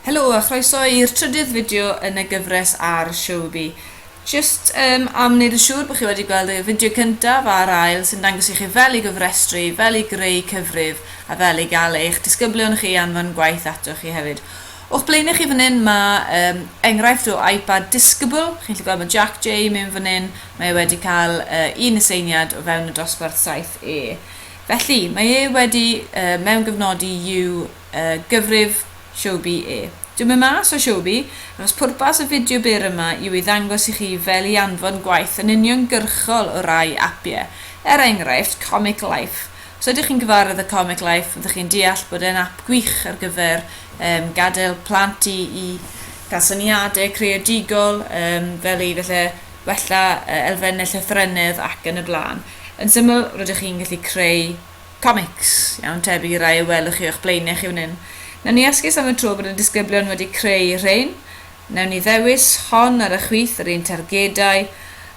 Helo a chroeso i'r trydydd fideo yn y gyfres ar Showbie. Just um, am wneud yn siŵr bod chi wedi gweld y fideo cyntaf a'r ail sy'n dangos i chi fel i gyfrestru, fel i greu cyfrif a fel i gael eich disgyblion chi anfon gwaith ato chi hefyd. O'ch blaenau chi fan hyn mae um, enghraifft o iPad disgybl, chi'n gallu gweld mae Jack J mewn fan hyn, mae e wedi cael uh, un aseiniad o fewn y dosbarth 7E. Felly, mae e wedi yy mewngyfnodi you yy gyfrif Showbie e. Dwi'n mynd mas o Showbie, achos pwrpas y fideo byr yma yw i ddangos i chi fel i anfon gwaith yn uniongyrchol o rai apie, er enghraifft Comic Life. Os ydych chi'n gyfarwydd â Comic Life, fyddwch chi'n deall bod e'n ap gwych ar gyfer yym gadael plant i i gael syniadau creadigol yym fel i falle wella yy elfennau llythrennedd ac yn y blaen. Yn syml, rydych chi'n gallu creu comics, iawn, tebyg i rai y welwch chi o'ch blaenau chi fan hyn. Nawn ni esgus am y tro bod y disgyblion wedi creu y rhein. Nawn ni ddewis hon ar y chwith, yr un targedau,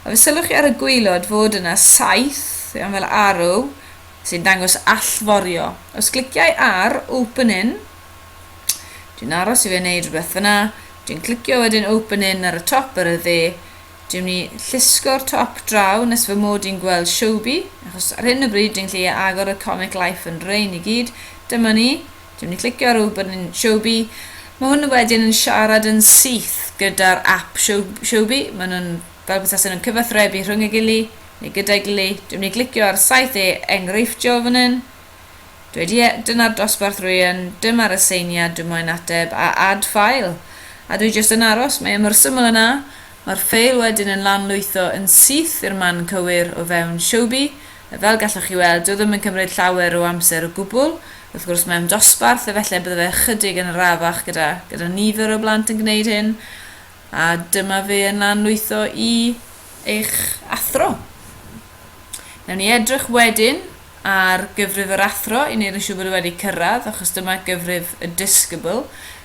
a fe sylwch chi ar y gwaelod fod yna saith, iawn, fel arrow, sy'n dangos allforio. Os cliciau ar Open In, dwi'n aros i fe wneud rhywbeth fyna, dwi'n clicio wedyn Open In ar y top ar y dde, Dwi'n mynd i llusgo'r top draw nes fy mod i'n gweld Showbie, achos ar hyn o bryd dwi'n gallu agor y Comic Life yn rain i gyd. Dyma ni. Dwi'n mynd i clicio ar ôl bod yn Showbie. Mae hwn wedyn yn siarad yn syth gyda'r app Showbie. Mae nhw'n fel bethau nhw'n cyfathrebu rhwng y gili, neu gyda'i gili. Dwi'n mynd i glicio ar saith e enghreifftiol fan hyn. Dweud ie, dyna'r dosbarth rwy yn, dyma'r aseiniad dwi moyn ateb, a add file. A dwi jyst yn aros, mae e mor syml a 'na. Mae'r ffeil wedyn yn lanlwytho yn syth i'r man cywir o fewn Showbie, a fel gallwch chi weld, dyw e ddim yn cymryd llawer o amser o gwbl. Wrth gwrs, mewn dosbarth, efallai bydde fe ychydig yn arafach gyda gyda nifer o blant yn gwneud hyn, a dyma fe yn lanlwytho i eich athro. Newn ni edrych wedyn Ar gyfrif yr athro, i wneud yn siŵr bod e wedi cyrraedd, achos dyma gyfrif y disgybl.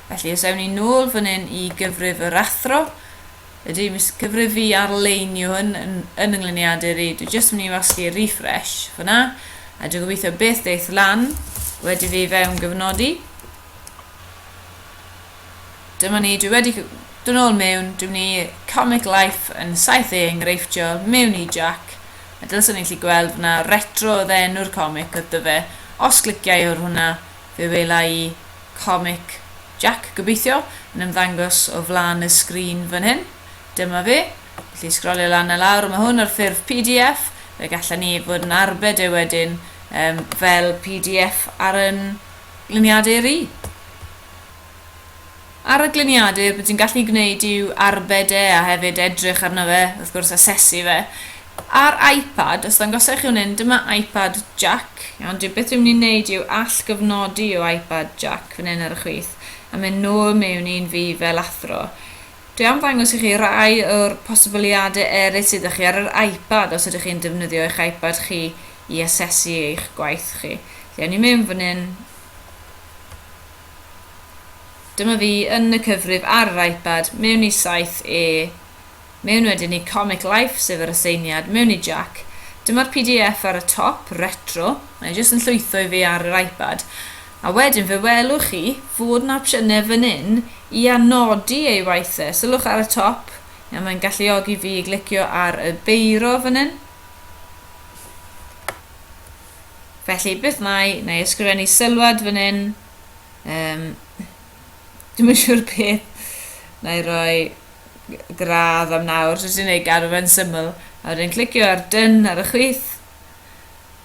Felly, os ewn ni nôl fan hyn i gyfrif yr athro, ydy, mis cyfrif i arleinio hyn yn, yn yngluniadur i. Dwi jyst yn mynd i wasgu refresh fyna, a dwi'n gobeithio beth deith lan wedi fi fewn gyfnodi. Dyma ni, dwi wedi dod nôl mewn, dwi ni Comic Life yn 7 ei enghreiffio mewn i Jack, a dylswn ni'n lli gweld fod na retro oedd enw'r comic oedd dyfe, os clicia i ar hwnna fe wela i Comic Jack gobeithio yn ymddangos o flan y sgrin fan hyn, dyma fe, felly sgrolio lan a lawr, mae hwn ar ffurf pdf, fe gallen ni fod yn arbed e wedyn um, fel pdf ar yn gliniadau ri. Ar y gliniadur, be ti'n gallu gwneud yw arbed e a hefyd edrych arno fe, wrth gwrs asesu fe. Ar iPad, os dangosai i chi hwn hyn, dyma iPad jack. Iawn, dwi beth dwi'n mynd i wneud yw all gyfnodi o iPad jack fan hyn ar y chwith a mynd nôl mewn i'n fi fel athro. Dwi am ddangos i chi rai o'r posibiliadau eraill sydd â chi ar yr iPad os ydych chi'n defnyddio eich iPad chi i asesu eich gwaith chi. Felly, awn ni mewn fan hyn. Dyma fi yn y cyfrif ar yr iPad, mewn i 7E, mewn wedyn i Comic Life, sef yr aseiniad, mewn i Jac. Dyma'r pdf ar y top, Retro, mae e jyst yn llwytho i fi ar yr iPad. A wedyn fe welwch chi fod 'na opsiynau fan hyn i anodi ei waith e. Sylwch ar y top, a mae'n galluogi fi i glicio ar y beiro fan hyn. Felly, beth nai, nai ysgrifennu sylwad fan hyn. Um, Dwi'n yn siŵr beth. Nai roi gradd am nawr. So ti'n ei gadw fe'n syml. A wedyn clicio ar dyn ar y chwith.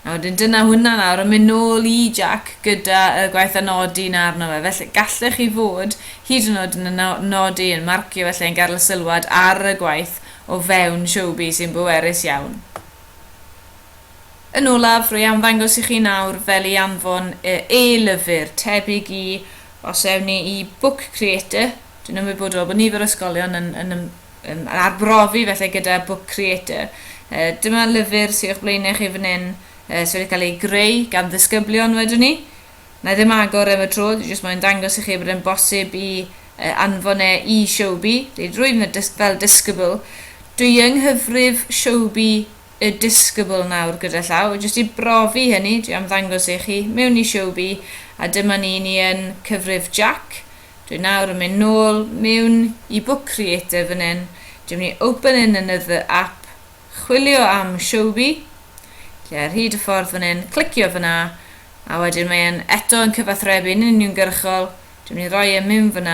A wedyn dyna hwnna nawr yn mynd nôl i Jack gyda y gwaith anodi na arno fe. Felly gallech chi fod hyd yn oed yn y nodi yn marcio felly yn gael sylwad ar y gwaith o fewn Showbie sy'n bwerus iawn. Yn olaf, rwy am ddangos i chi nawr fel i anfon y e-lyfr, tebyg i, os ewn ni i Book Creator, dwi'n ymwybodol bod nifer o ysgolion yn, yn, yn, yn arbrofi felly gyda Book Creator. E, dyma lyfr sydd o'ch blaenau chi fan hyn, e, sydd wedi cael ei greu gan ddisgyblion wedyn ni. Na i ddim agor am y tro, dwi jyst moyn dangos i chi bod e'n bosib i e, anfon e i Showbie, rwy'n dweud fel disgybl, dwi yng nghyfrif Showbie y disgybl nawr gyda llaw, jyst i brofi hynny, dwi am ddangos i chi, mewn i Showbie, a dyma ni, ni yn cyfrif Jac, dwi nawr yn mynd nôl mewn i Book Creator fan hyn, dwi mynd i open in another app, chwilio am Showbie, lle ar hyd y ffordd fan hyn, clicio fyna, a wedyn mae e'n eto yn cyfathrebu'n uniongyrchol, dwi mynd i roi e mewn fan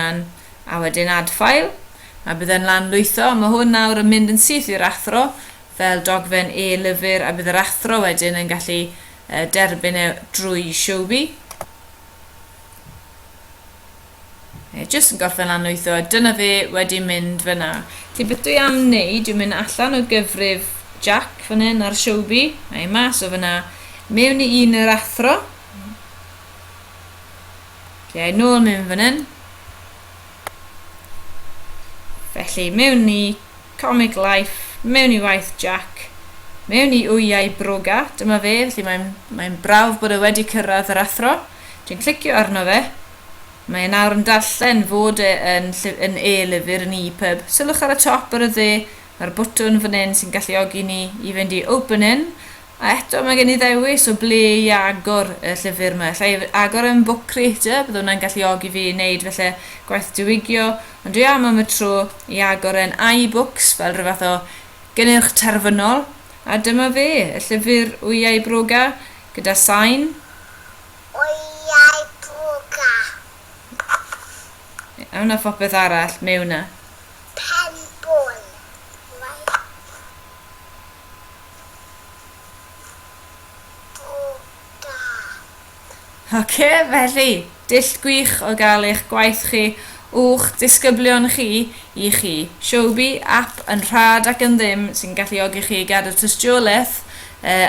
a wedyn add file, a bydd e'n lan lwytho, mae hwn nawr yn mynd yn syth i'r athro, fel dogfen e-lyfr a bydd yr athro wedyn yn gallu derbyn e drwy Showbie. Ie, jyst yn gorffen lan wytho, a dyna fe wedi mynd fyna. Felly beth dwi am wneud yw mynd allan o gyfrif Jack fan hyn ar Siobi, a i mas o fyna, mewn i un yr athro. Ie, nôl mewn fan hyn. Felly, mewn i Comic Life, mewn i waith Jack, mewn i wyau broga, dyma fe, felly mae'n mae'n brawf bod e wedi cyrraedd yr athro, dwi'n clicio arno fe, mae e nawr yn darllen fod e yn yn e-lyfr yn e-pub, sylwch ar y top ar y dde, mae'r botwm fan hyn sy'n galluogi ni i fynd i open in, A eto mae gen i ddewis o ble i agor y llyfr 'ma. Alla i agor e yn Book Creator, bydde hwnna'n galluogi fi i wneud falle gwaith diwygio, ond dwi am am y tro i agor e'n iBooks fel rhyw fath o gynnyrch terfynol, a dyma fe, y llyfr Wyau Broga, gyda sain. Wyau Broga. A wna phopeth arall mewn 'na. Pen bol. Right. Ok, felly, dull gwych o gael eich gwaith chi, uwch disgyblion chi, i chi. Showbie, app yn rhad ac yn ddim sy'n galluogi chi i gadw tystiolaeth, yy,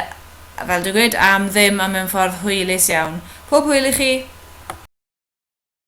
fel dwi'n gweud, am ddim a mewn ffordd hwylus iawn. Pob hwyl i chi!